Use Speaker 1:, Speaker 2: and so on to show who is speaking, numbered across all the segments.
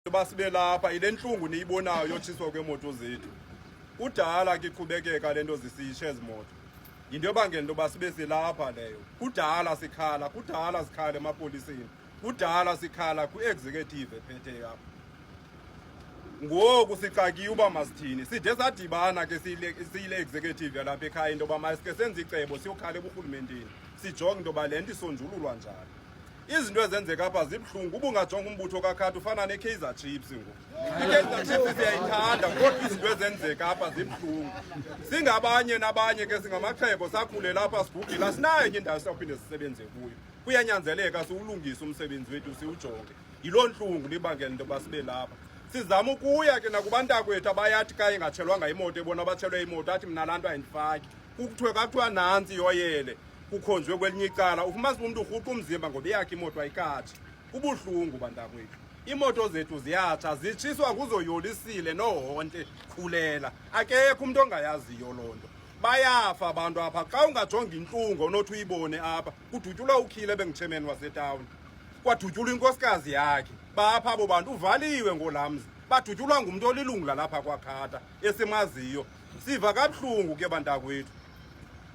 Speaker 1: uba sibe lapha yile ntlungu niyibonayo yotshiswa kweemoto zethu kudala ke iqhubekeka le nto zisitshe ezi moto yinto ebangela into yoba sibe silapha leyo kudala sikhala kudala sikhala emapoliseni kudala sikhala kwi-executive ephetheyo apha ngoku sixakiwe uba masithini side sadibana ke siyile executive yalapha ekhaya into yoba masike senze icebo siyokhala eburhulumenteni sijonge into yoba le nto isonjululwa njani izinto ezenzeka apha zibuhlungu uba ungajonga umbutho kakhathi ufana nekaizer chiefs ngoku ikaizer chiefs siyayithanda kodwa izinto ezenzeka apha zibuhlungu singabanye nabanye ke singamaxhebo sakhulela apha sibhubhile asinayo enye indawo siyawuphinde sisebenze kuyo kuyanyanzeleka siwulungise umsebenzi wethu siwujonge yiloo ntlungu libangela into yoba sibe lapha sizama ukuya ke nakubantakwethu abayathi kaye ngatshelwanga imoto ebona abatshelwe imoto athi mna laa nto ayindifaki kuthiwe kathiwa nantsi yoyele kukhonjwe kwelinye icala ufumanisa umntu urhuqa umzimba ngoba eyakhe imoto ayikatsha kubuhlungu bantakwethu iimoto zethu ziyatsha zitshiswa nguzoyolisile nohonte khulela akekho umntu ongayaziyo loo nto bayafa abantu apha xa ungajonga intlungu onothi uyibone apha kudutyulwa ukhile bengutshemeni wasetawuni kwadutyulwa inkosikazi yakhe bapha abo bantu uvaliwe ngolamzi badutyulwa ngumntu olilungu lalapha kwakhata esimaziyo siva kabuhlungu ke bantakwethu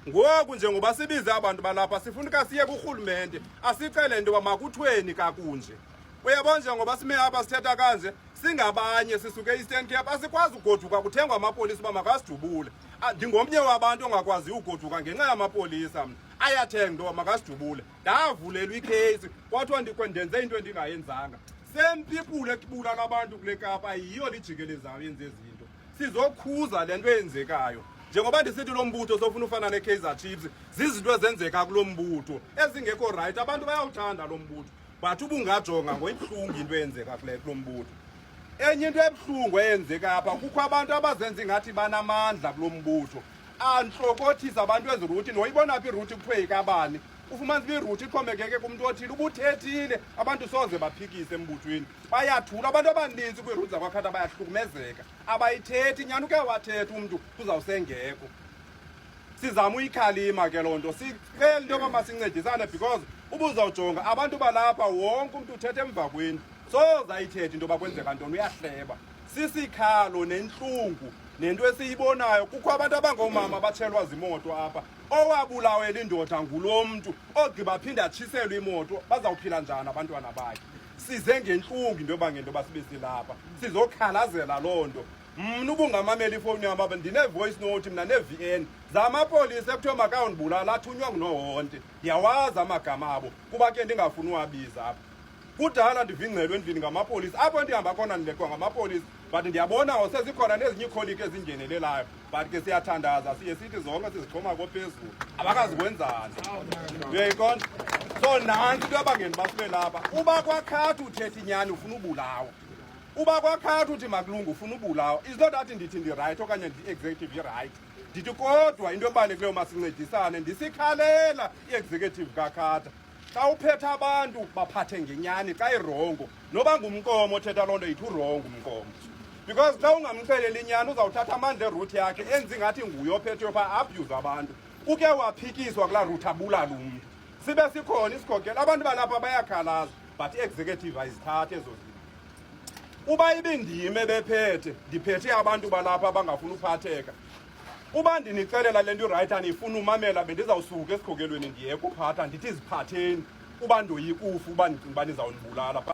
Speaker 1: ngoku njengoba sibize abantu balapha sifuna uka siye kurhulumente asicele nto yoba makuthweni kakunje uyabona njengoba sime apha sithetha kanje singabanye sisuke e-eastern cape asikwazi ugoduka kuthengwa amapolisa uba makasidubule ah, ndingomnye wabantu ongakwaziyo ugoduka ngenxa yamapolisa mna ayathenga into yoba makasidubule ndavulelwa ikheyisi kwathiwa ndenze into endingayenzanga same people ekubulala abantu kule kapa yiyo lijikelezayo yenze ezinye sizokhuza le nto eyenzekayo njengoba ndisithi lo mbutho sofuna ufana ne-kaizer chiefs zizinto ezenzeka kulo mbutho ezingekho rayithi abantu bayawuthanda lo mbutho but ubungajonga ngoyibuhlungu into eyenzeka kule kulo mbutho enye into ebuhlungu eyenzeka apha kukho abantu abazenza ingathi banamandla kulo mbutho antlokothisa abantu eziruthi noyibona phi iruthi kuthiwe ikabani ufumanisa uba iruthi ixhomekeke kumntu othile ubuthethile abantu soze baphikise embuthweni bayathula abantu abaninzi kwiirhudi zakwakhata bayahlukumezeka abayithethi nyani uke wathethi umntu kuzawusengekho sizama uyikhalima ke loo nto sicele into yoba masincedisane because ubuzawujonga abantu balapha wonke umntu uthetha emva kweni sozayithethi into yoba kwenzeka ntoni uyahleba sisikhalo nentlungu nento esiyibonayo kukho abantu abangoomama batshelwa zimoto apha owabulawela indoda ngulo mntu ogqiba phinde atshiselwe imoto bazawuphila njani abantwana bakhe size ngentlungu into yoba ngento yoba sibe silapha sizokhalazela loo nto mna ubungamamela ifowuni yam apha ndine-voice note mna ne-v n zamapolisa ekuthiwa makayondibulala athunywa ngunohonte ndiyawazi amagama abo kuba ke ndingafuni uwabiza apha kudala ndivingcelwe endlini ngamapolisa apho ndihamba khona ndilekwa ngamapolisa but ndiyabona sezikhona nezinye iikholiki ezingenelelayo but ke siyathandaza siye sithi zonke sizixhoma kophezulu abakazikwenzani uyayiqonda so nantsi into yabangeni bafube lapha uba kwakhathi uthetha inyani ufuna ubulawa uba kwakhathi uthi makulungu ufuna ubulawa is not that ndithi ndirayithi okanye ndi-executive irayithi ndithi kodwa into ebalulekileyo masincedisane ndisikhalela i-executive kakhatha xa uphetha abantu baphathe ngenyani xa irongo noba ngumnkomo othetha loo nto yithi urongo umnkomo because xa ungamxeleli inyani uzawuthatha amandla eruthi yakhe enzi ngathi nguye ophethe yopha abuse abantu uke waphikiswa kulaa ruthi abulala umntu sibe sikhona isikhokelo abantu balapha bayakhalaza but i-executive ayizithathi ezo zinto uba ibindime bephethe ndiphethe abantu balapha abangafuni uphatheka uba ndinixelela le nto irayithi anifuni umamela bendizawusuka esikhokelweni ndiye kuphatha ndithi ziphatheni uba ndoyikufa uba ndicinga uba nizawundibulala